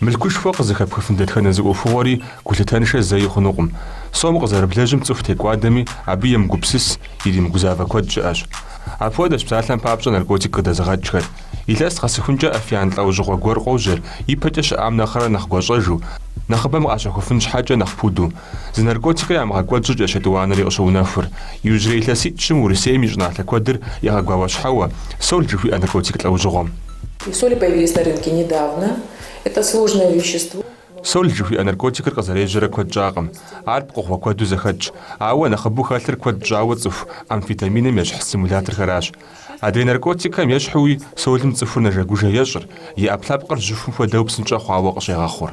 Мылъкушхуэ къызыхэпхыфын дэтхэнэ зы ӏуэхугъуэри гулъытэншэ зэи хъунукъым. Сом къызэрыблэжьым цӏыху текӏуадэми абы емыгупсыс, иримыгузавэ куэд щыӏэщ. Апхуэдэщ псалъэм папщӏэ наркотик къыдэзыгъэкӏхэр. Илъэс къэсыхункӏэ афиян лӏэужьыгъуэ гуэр къожьэр, ипэкӏэ щыӏам нэхърэ нэхъ гуащӏэжу, нэхъыбэм къащэхуфын щхьэкӏэ нэхъ пуду. Зы наркотикыр ямыгъэкӏуэд щӏыкӏэ етӏуанэри къыщыунэхур. Иужьрей илъэситӏ-щым Урысейм и щӏыналъэ куэдыр егъэгуауэщхьэуэ, сол жыхуиӏэ наркотик лӏэужьыгъуэм. Сол жыхуиӏэ наркотикыр къызэрежьэрэ куэд щӏакъым. Ар пкъыгъуэ куэду зэхэтщ. Ауэ нэхъыбэу хэлъыр куэд щӏауэ тцӏыху амфетаминым ещхь стимуляторхэращ. Адрей наркотикхэм ещхьуи солым цӏыхур нэжэгужэ ещӏыр, и ӏэпкълъэпкъыр жьыхум хуэдэу псынщӏэ хъуауэ къыщегъэхъур.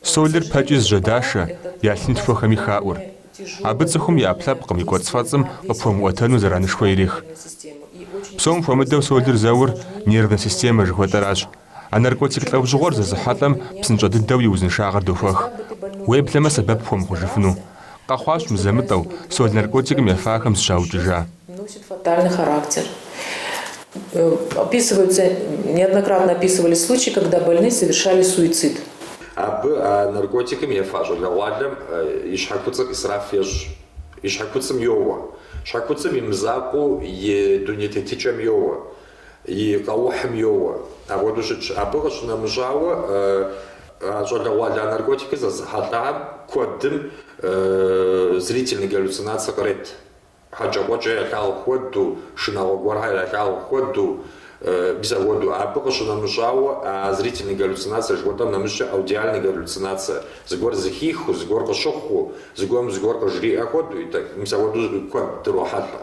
Солыр пэкӏи зыжьэдашэ, я лъынтхуэхэми хаӏур. Абы цӏыхум и ӏэпкълъэпкъым и кӏуэцӏфэцӏым къыпхуэмыӏуэтэну зэранышхуэ ирех. Псом хуэмыдэу солыр зэур нервнэ системэ жыхуэтӏэращ. А наркотик лӏэужьыгъуэр зэзыхьэлӏэм псынщӏэ дыдэу и узыншагъэр дохуэх. Уеблэмэ сэбэп пхуэмыхъужыфыну, Къэхъуащ мызэ-мытӏэу сол наркотикым ефахэм зыщаукӏыжа. Носит фатальный характер. Описываются, неоднократно описывались случаи, когда больные совершали суицид. Абы а наркотикым ефа щӏалэгъуалэм и щхьэ куцӏыр ӏисраф ещӏ, и щхьэ куцӏым йоуэ, щхьэ куцӏым и мызакъуэу и дуней тетыкӏэм йоуэ, и къэухьым йоуэ. Апхуэдэу щытщ. Абы къыщынэмыщӏауэ, а щӏалэгъуалэ а наркотикыр зэзыхьэлӏам куэдым зрительный галлюцинацэ кърет, хьэкӏэкхъуэкӏэ ялъагъу хуэдэу, шынагъуэ гуэрхэр ялъагъу хуэдэу, мис апхуэдэу. Абы къыщынэмыщӏауэ, а зрительный галлюцинацэ жыхуэтӏэм нэмыщӏкӏэ аудиальный галлюцинацэ, зыгуэр зыхихыу, зыгуэр къыщыхъуу, зыгуэрым зыгуэр къыжриӏэ хуэдэу, мис апхуэдэу куэд дрохьэлӏэ.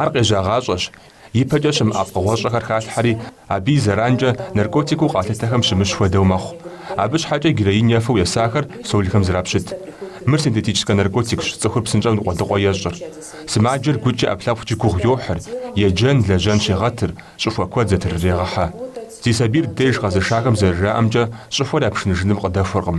Ар къежьагъащӏэщ, ипэкӏэ щымыӏа пкъыгъуэщӏэхэр халъхьэри, абы и зэранкӏэ наркотикыу къалъытэхэм щымыщ хуэдэу мэхъу. Абы щхьэкӏэ героин ефэу есахэр солхэм зрапщыт. Мыр синтетическэ наркотикщ, цӏыхур псынщӏэу ныкъуэдыкъуэ ещӏыр. Сымаджэр гукӏи ӏэпкълъэпкъкӏи гугъу йохьыр, еджэн, лэжьэн щегъэтыр, щӏыхуэ куэд зэтрырегъэхьэ. Зи сабийр ди деж къэзышахэм зэрыжаӏэмкӏэ, щӏыхуэр япшыныжыным къыдэхуэркъым.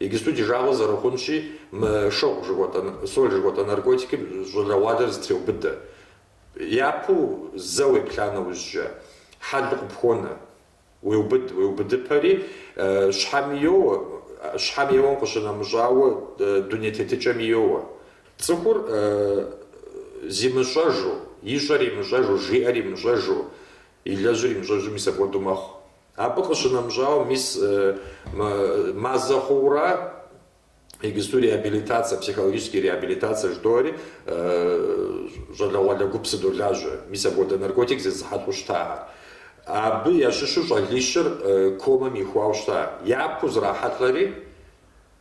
Иджыпсту ди жагъуэ зэрыхъунщи, мы шыгъу жыхуэтӏэ, соль жыхуэтӏэ наркотикым щӏалэгъуалэр зэтреубыдэ. Япэу зэ уеплъа нэужькӏэ, хьэлу къыпхуонэ. Уеубыд, уеубыдыпэри, щхьэми йоуэ, щхьэм еуэм къыщынэмыщӏауэ, дуней тетыкӏэми йоуэ. Цӏыхур зимыщӏэжу, ищӏэр имыщӏэжу, жиӏэр имыщӏэжу, илэжьыр имыщӏэжу мис апхуэдэу мэхъу. Абы къыщынэмыщӏауэ, мис мазэ хъуура игысту реабилитацэ, психологический реабилитацэ жытӏори, щӏалэгъуалэ гуп сыдолажьэ, мис апхуэдэ наркотик зэзыхьэлӏэу щытахэм. Абы ящыщу щӏалищыр комэм ихуауэ щыта. Япэу зрахьэлӏэри,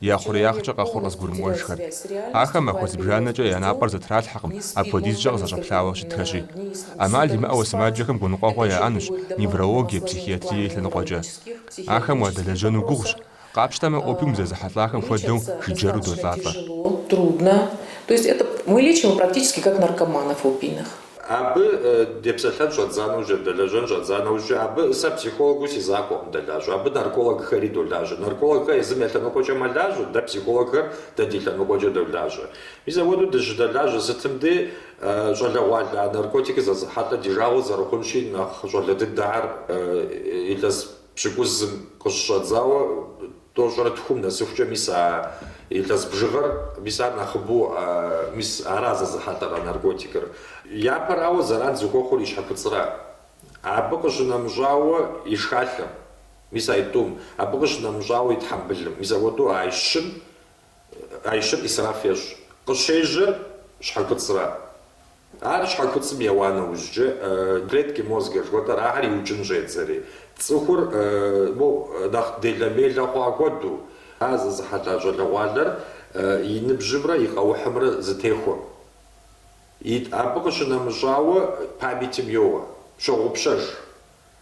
Я хъуреягъкӏэ къэхъур къызыгурымыӏуэжхэр. Ахэр махуэ зыбжанэкӏэ я напӏэр зэтралъхьэкъым, апхуэдизкӏэ къызэщӏэплъауэ щытхэщи. ӏэмал имыӏэуэ сымаджэхэм гуныкъуэгъуэ яӏэнущ неврологие, психиатрие и лъэныкъуэкӏэ. Ахэм уадэлэжьэну гугъущ. Къапщтэмэ, опиум зэзыхьэлӏахэм хуэдэу жыджэру долӏалӏэ. Абы депсэлъэн щӏэддза нэужь, дыдэлэжьэн щӏэддза нэужькӏэ абы сэ психологыу си закъуэкъым дэлажьэ. Абы наркологхэри долажьэ. Наркологхэр езым я лъэныкъуэкӏэ мэлажьэ, дэ психологхэр дэ ди лъэныкъуэкӏэ долажьэ. Мис апхуэдэу дыщыдэлажьэ сытым дей щӏалэгъуалэ а наркотикыр зэзыхьэлӏэр ди жагъуэ зэрыхъунщи, нэхъ щӏалэ дыдэхэр илъэс Пщыкӏузым къыщыщӏэдзауэ тӏощӏрэ тхум нэсыхукӏэ мис а илъэс бжыгъэр, мис ар нэхъыбэу, мис ара зэзыхьэлӏэра наркотикыр. Япэрауэ зэран зыхуэхъур и щхьэкуцӏра, абы къыщынэмыщӏауэ и шхалъэм, мис аитӏум, абы къыщынэмыщӏауэ и тхьэмбылым, мис апхуэдэу аищым Аищыр исраф ещӏ. Къыщежьэр щхьэкуцӏра. Ар щхьэкуцӏым еуа нэужькӏэ, клетки мозга жыхуэтӏэр, ахэр иукӏын щӏедзэри, цӏыхур моу нэхъ делэ-мелэ хъуа хуэдэу, ар зэзыхьэлӏа щӏалэгъуалэр и ныбжьымрэ и къэухьымрэ зэтехуэкъым. Абы къыщынэмыщӏауэ памятым йоуэ, щогъупщэж.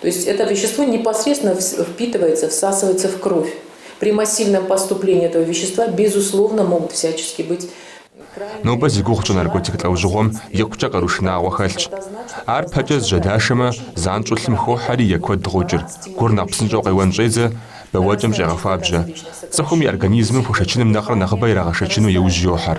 То есть это вещество непосредственно впитывается, всасывается в кровь. При массивном поступлении этого вещества, безусловно, могут всячески быть Нобэ зи гугъу тщӏы наркотик лӏэужьыгъуэм икъукӏэ къару шынагъуэ хэлъщ. Ар пэкӏэ зыжьэдашэмэ, занщӏэу лъым хохьэри е куэд гъокӏыр, гур нэхъ псынщӏэу къеуэн щӏедзэ, бэуэкӏэм щӏегъэхуабжьэ. Цӏыхум и организмым хуэшэчыным нэхърэ нэхъыбэ ирагъэшэчыну и ужь йохьэр.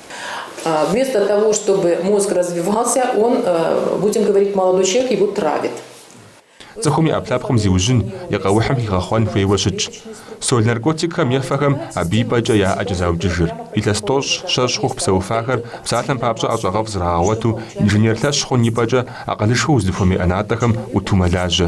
Вместо того, чтобы мозг развивался, он, будем говорить, молодой человек, его травят. Цӏыхум и ӏэпкълъэпкъым зиужьын, и къэухьым хигъэхъуэн хуейуэ щытщ. Соль наркотикхэм ефэхэм абы и пӏэкӏэ я ӏэкӏэ заукӏыжыр. Илъэс тӏощӏ, щэщӏ хъуху псэуфахэр псалъэм папщӏэ ӏэщӏагъэфӏ зрагъэгъуэту, инженер лъэщ хъун и пӏэкӏэ акъылышхуэ уздыхуэмей ӏэнатӏэхэм ӏуту мэлажьэ.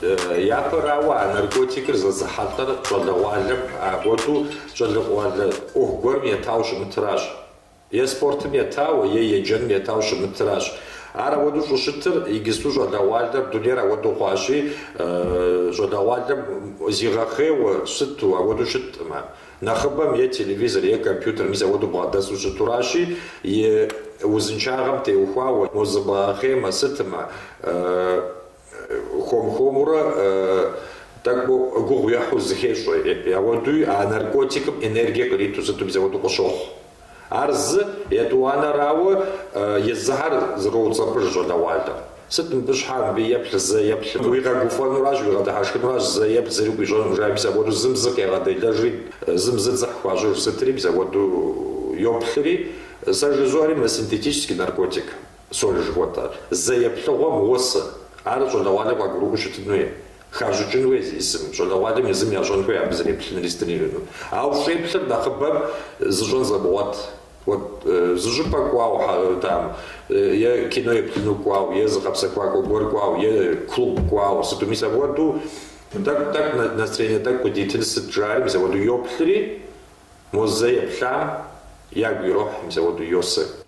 Япэрауэ, а наркотикыр зэзыхьэлӏэр щӏалэгъуалэм апхуэдэу щӏалэгъуалэр ӏуэху гуэрым етауэ щымытыращ. Е спортым етауэ, е еджэным етауэ щымытыращ. Ар ауэдэу щӏыщытыр игысту щӏалэгъуалэр дунейр ауэдэу хъуащи, щӏалэгъуалэм зигъэхъейуэ сыту, ауэдэу щыткъымэ. Нэхъыбэм е телевизор, е компьютер мис апхуэдэу бгъэдэсу щытуращи, и узыншагъэм теухуауэ, мо зыбгъэхъеймэ, сытымэ, хуэм-хуэмурэ тӏэкӏу гугъу ехьу зыхещӏэ. Ауэдуи а наркотикым энергие къриту сыту мис апхуэдэу къыщохъу. Ар зы етӏуанэрауэ езыхэр зэроуцӏэпӏыж щӏалэгъуалэр. Сыт мыбы щхьэ, мыбы еплъ, зэ еплъ, укъэгуфӏэнуращ, укъэдыхьэшхынуращ, зэ еплъ, зыри къуищӏэнукъым жаӏэри, мис апхуэдэу зым зы къегъэделэжри, зым зы дзыхь хуащӏыж сытри, мис апхуэдэу йоплъри, сэ жызоӏэри мы синтетический наркотик, соль жыхуэтӏэр, зэ еплъыгъуэм уосы. Ар щӏалэгъуалэр къагурыӏуэу щытын хуей. Хащӏыкӏын хуей езым, щӏалэгъуалэм езым ящӏэн хуей абы зэреплъынри сыт ирищӏэну. Ауэ щӏеплъыр нэхъыбэм зыщӏэн зымыгъуэт. Уэ зы щӏыпӏэ кӏуауэ там е кино еплъыну кӏуауэ, е зыгъэпсэхуакӏуэ гуэр кӏуауэ, е клуб кӏуауэ, сыту. Мис апхуэдэу тӏэкӏу, тӏэкӏу, настроение тӏэкӏу къыдитын сыт жаӏэри, мис апхуэдэу йоплъри, мо зэ еплъам ягу ирохь, мис апхуэдэу йосэ.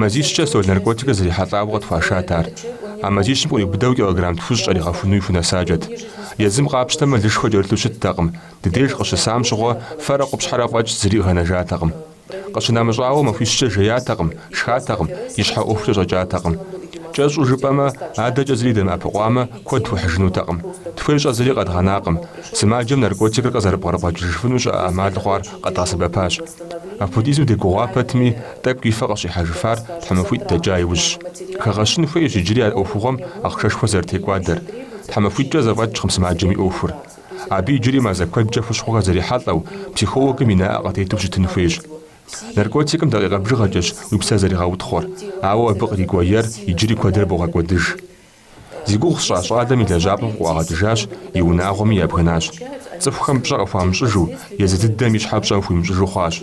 Мазищкӏэ соль наркотикыр зэрихьэлӏауэ къытхуашат ар. А мазищым къриубыдэу килограмм тхущӏ кӏэригъэхунуи хунэсакӏэт. Езым къапщтэмэ, лышхуэ кӏэрылъу щыттэкъым, ди деж къыщысам щыгъуэ фэрэ къупщхьэрэ фӏэкӏ зыри къэнэжатэкъым. Къыщынэмыщӏауэ, махуищкӏэ жеятэкъым, шхатэкъым, и щхьэ ӏуэхукӏэ щӏэкӏатэкъым. Кӏэщӏу жыпӏэмэ, адэкӏэ зыри дэмыӏэпыкъуамэ, куэд хуэхьыжынутэкъым. Тхуэщӏэ зыри къэдгъэнакъым. Сымаджэм наркотикыр къызэрыпкърыбгъэкӏыжыфыну щыӏэ ӏэмал хъуар къэдгъэсэбэпащ. Апхуэдизу дегугъуа пэтми, Тӏэкӏу и фэ къыщӏихьэжыфар тхьэмахуитӏ дэкӏа иужьщ. Хэгъэщын хуейщ иджыри а ӏуэхугъуэм ахъшэшхуэ зэрытекӏуадэр. Тхьэмахуитӏкӏэ зэфӏэкӏкъым сымаджэм и ӏуэхур. Абы иджыри мазэ куэдкӏэ хущхъуэхэр зэрихьэлӏэу, психологым и нэӏэ къытету щытын хуейщ. Наркотикым дакъикъэ бжыгъэкӏэщ уи псэр зэригъэутхъуэр, ауэ абы кърикӏуэ ер иджыри куэдрэ богъэкӏуэдыж. Зи гугъу сщӏа щӏалэм и лэжьапӏэм къыӏуагъэкӏыжащ, и унагъуэми ябгынащ. Цӏыхухэм пщӏэ къыхуамыщӏыжу, езы дыдэм и щхьэм пщӏэ хуимыщӏыжу хъуащ.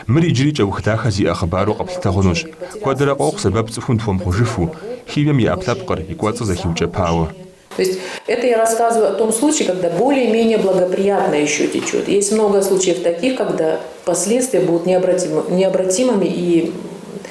Мыр иджыри кӏэух дахэ зиӏэ хъыбару къэплъытэ хъунущ. Куэдрэ къохъу сэбэп цӏыхум дыхуэмыхъужыфу, химием и ӏэпкълъэпкъыр, и кӏуэцӏыр зэхиукӏэпауэ. То есть это я рассказываю о том случае, когда более менее благоприятно еще течет. Есть много случаев таких, когда последствия будут необратимы, необратимыми и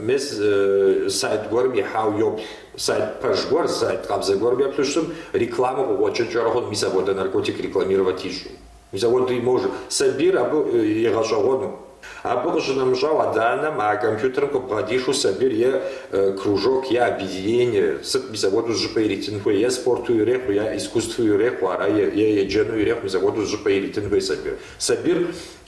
Мес сайт гуэрым ихьауэ йоплъ. Сайт пэж гуэр, сайт къабзэ гуэрым еплъу щытми, рекламэ къыкъуэкӏынкӏэрэ хъуну, мис апхуэдэ наркотик рекламировать ищӏу. Мис апхуэдэу имож сабийр абы игъэщӏэгъуэну. Абы къыщынэмыщӏауэ, адэ-анэм а компьютерым къыбгъэдишу сабийр е кружок, е объединение, сыт мис апхуэдэу зы щӏыпӏэ иритын хуей, е спорту ирехъу, е искусству ирехъу ара, е еджэну ирехъу, мис апхуэдэу зы щӏыпӏэ иритын хуей сабийр. Сабийр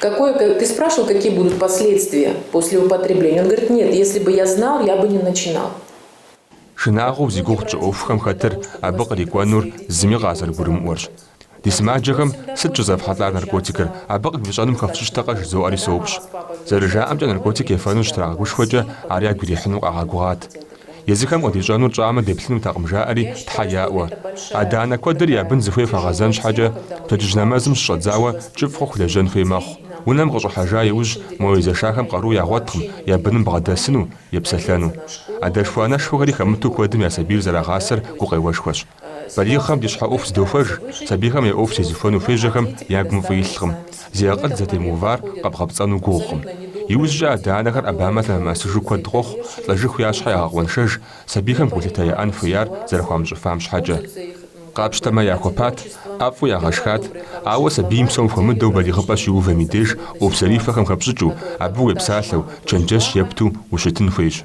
Какое, ка, ты спрашивал, какие будут последствия после употребления? Он говорит, нет, если бы я знал, я бы не начинал. Шынагъуэу зи гугъу тщӏы ӏуэхухэм хэтыр абы кърикӏуэнур зыми къазэрыгурымыӏуэрщ. Ди сымаджэхэм сыт щӏызэфхьэлӏар наркотикыр, абы къывищӏэнум хэфщӏыкӏтэкъэ жызоӏэри соупщӏ. Зэрыжаӏэмкӏэ, наркотик ефэну щытрагъэгушхуэкӏэ ар ягу ирихьыну къагъэгугъат. Езыхэм къыдищӏэнур тщӏамэ, деплъынутэкъым, жаӏэри, Тхьэ яӏуэ. Адэ-анэ куэдыр я бын зыхуей хуагъэзэн щхьэкӏэ, пщэдджыжь нэмэзым щыщӏэдзауэ, кӏыфӏ хъуху лэжьэн хуей мэхъу. Унэм къыщӏыхьэжа иужь, мо езэшахэм къару ягъуэткъым, я быным бгъэдэсыну, епсэлъэну. Адэшхуэ-анэшхуэхэри хэмыту куэдым я сабийр зэрагъасэр гукъеуэшхуэщ. Балигъхэм ди щхьэ ӏуэху зыдохуэж, сабийхэм я ӏуэху зезыхуэну хуежьэхэм я гум фӏы илъкъым, зи акъыл зэтемыувар къэбгъэпцӏэну гугъукъым. Иужькӏэ адэ-анэхэр ӏэбамэ лъэмыӏэсыжу куэд къохъу, лӏэжыху я щхьэ ягъэкъуэншэж, сабийхэм гулъытэ яӏэн хуеяр зэрыхуамыщӏыфам щхьэкӏэ. Къапщтэмэ, яхуэпат, ӏэфӏу ягъэшхат, ауэ сабийм псом хуэмыдэу балигъыпӏэ щиувэм и деж ӏуэху зэрихуэхэм хэпщӏыкӏыу, абы уепсалъэу, чэнджэщ епту ущытын хуейщ.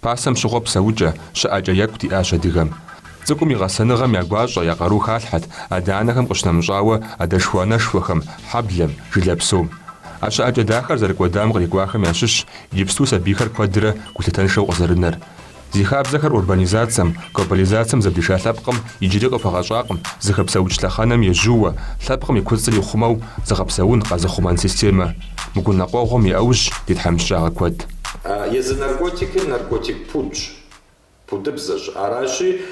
Пасэм щыгъуэ псэукӏэ, щыӏэкӏэ екӏу диӏащ адыгэм. Цӏыкӏум и гъэсэныгъэм я гуащӏэ, я къару халъхьэт, адэ-анэхэм къыщынэмыщӏауэ, адэшхуэ-анэшхуэхэм, хьэблэм, жылэ псом. А щыӏэкӏэ дахэр зэрыкӏуэдам кърикӏуахэм ящыщщ иджыпсту сабийхэр куэдрэ гулъытэншэу къызэрынэр. Зи хабзэхэр урбанизацэм, глобализацэм зэблиша лъэпкъым иджыри къыхуэгъэщӏакъым зыхэпсэукӏ лъэхъэнэм ежьууэ, лъэпкъым и куцӏыр ихъумэу зыгъэпсэун, къэзыхъумэн системэ. Мы гуныкъуэгъуэм и ӏэужь ди тхьэмыщкӏагъэ куэд. Езы наркотикыр наркотик пудщ, пудыбзэщ. Аращи,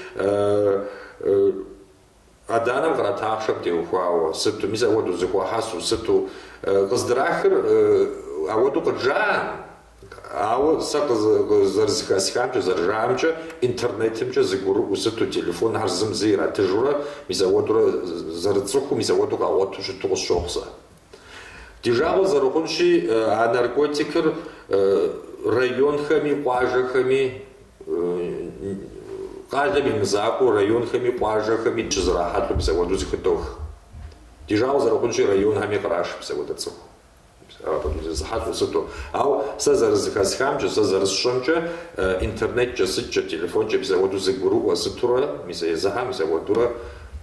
адэ-анэм кърат ахъшэм теухуауэ, сыту, мис апхуэдэу зыхуахьэсу, сыту. Къыздрахыр апхуэдэу къыджаӏэм, ауэ сэ зэрызыхэсхамкӏэ, зэрыжаӏэмкӏэ, интернетымкӏэ зыгурыӏуэу сыту, телефонхэр зым зы иратыжурэ, мис апхуэдэурэ зэрыцӏыхуу, мис апхуэдэу къагъуэту щыту къысщохъу сэ. Ди жагъуэ зэрыхъунщи, а наркотикыр районхэми, къуажэхэми, къалэм и мызакӏуэу районхэми, къуажэхэми щызэрахьэлӏэу мис апхуэдэу зыхыдох. Ди жагъуэ зэрыхъунщи, районхэми къраш мис апхуэдэ цӏыху. Апхуэдэу зезыхьэлӏэу сыту. Ауэ сэ зэрызыхэсхамкӏэ, сэ зэрысщӏэмкӏэ, интернеткӏэ, сыткӏэ, телефонкӏэ мис апхуэдэу зыгурыӏуэ сытурэ, мис езыхьэ мис апхуэдэурэ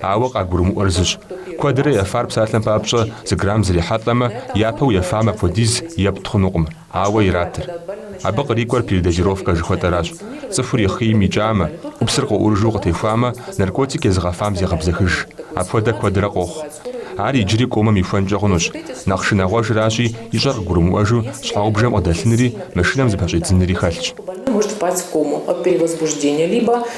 Ауэ къагурымыӏуэр зыщ, куэдрэ ефар псалъэм папщӏэ зы грамм зрихьэлӏэмэ, япэу ефам апхуэдиз епт хъунукъым, ауэ иратыр. Абы кърикӏуэр передозировкэ жыхуэтӏэращ, цӏыхур и хъийм икӏамэ, ӏупсыр къыӏурыжу къытехуамэ, наркотик езыгъэфам зегъэбзэхыж. Апхуэдэ куэдрэ къохъу. Ар иджыри комэм ихуэнкӏэ хъунущ, нэхъ шынагъуэжращи, ищӏэр къыгурымыӏуэжу щхьэгъубжэм къыдэлъынри, машинэм зыпэщӏидзынри хэлъщ.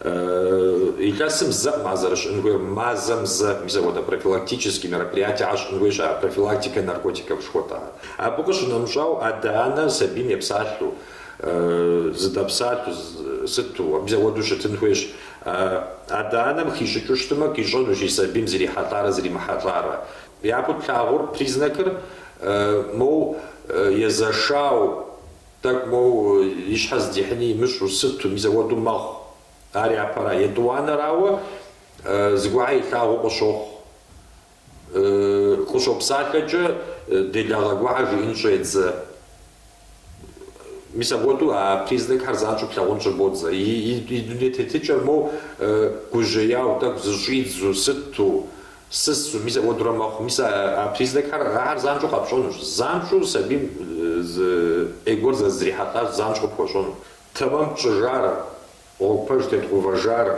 Илъэсым зэ ма зэрыщӏын хуейр мазэм зэ мис апхуэдэ профилактический мероприятие ащӏын хуейщ, а профилактикэ наркотиков жыхуэтӏар. Абы къыщынэмыщӏау адэ-анэр сабийм епсалъэу, зыдэпсалъэу сыту, мис апхуэдэу щытын хуейщ. Адэ-анэм хищӏыкӏыу щытмэ, къищӏэнущ и сабийм зрихьэлӏарэ зримыхьэлӏарэ. Япэу тлъагъур, признакыр, моу, езэшау Тӏэкӏу моу и щхьэ здихьыни имыщӏу сыту, мисауэду мэхъу. Ар япэра? Етӏуанэрауэ, зыгуэрхьэр илъагъуу къыщохъу. Къыщопсалъэкӏэ, делагъэ гуэрхьэр жиӏэн щӏедзэ. Мис апхуэдэу а признакхэр занщӏэу плъагъун щӏыбодзэ. И дуней тетыкӏэр моу гужьеяу, тӏэкӏу зыщӏидзу сыту, Щысу, мис апхуэдэурэ мэхъу. Мис а признакхэр ахэр занщӏэу къэпщӏэнущ. Занщӏэу сабийм зы ӏей гуэр зэрызрихьэлӏар занщӏэу къыпхуэщӏэну. Тэмэм тщӏыжар, гъуэгу пэж тедгъувэжар,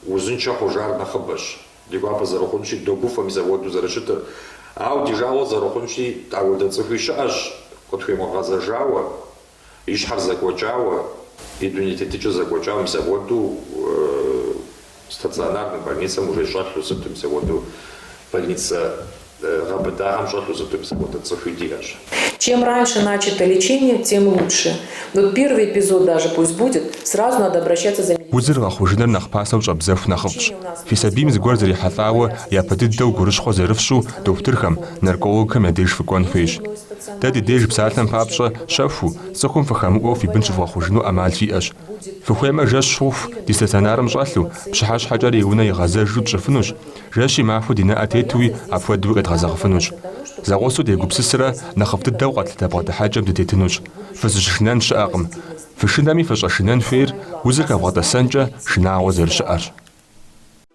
узыншэ хъужар нэхъыбэщ. Ди гуапэ зэрыхъунщи, догуфӏэ мис апхуэдэу зэрыщытыр. Ауэ ди жагъуэ зэрыхъунщи, ауэдэ цӏыхуи щыӏэщ, къытхуемыгъэзэжауэ. И щхьэр зэкӏуэкӏауэ, и дуней тетыкӏэр зэкӏуэкӏауэ мисауэду стационарным больницэм уже щӏэлъу сыту мисауэду больницэ гъэбыдагъэм щӏэлъу сыту мисауэду цӏыхуи диӏэщ. Чем раньше начато лечение, тем лучше. Вот первый эпизод даже пусть будет, сразу надо обращаться за медицинской. Узыр гъэхъужыныр нэхъ пасэу щӏэбдзэху нэхъыфӏщ. Фи сабийм зыгуэр зэрихьэлӏауэ япэ дыдэу гурыщхъуэ зэрыфщу дохутырхэм, наркологхэм я деж фыкӏуэн хуейщ. Дэ ди деж псалъэм папщӏэ щэхуу, цӏыхум ффӏыхэмыӏуэу фи бын щывгъэхъужыну ӏэмал фиӏэщ. Фыхуеймэ, жэщ хъуху ди стационарым щӏэлъу, пщыхьэщхьэкӏэрэ и унэ игъэзэжу тщӏыфынущ, жэщи махуи ди нэӏэ тетуи апхуэдэуи къедгъэзэгъыфынущ. Зэгъусэу дегупсысрэ нэхъыфӏ дыдэу къэтлъытэ бгъэдыхьэкӏэм дытетынущ. Фызыщышынэн щыӏэкъым. Фышынэми фыщӏэшынэн хуейр узыр хэвгъэтӏэсэнкӏэ шынагъуэ зэрыщыӏэрщ.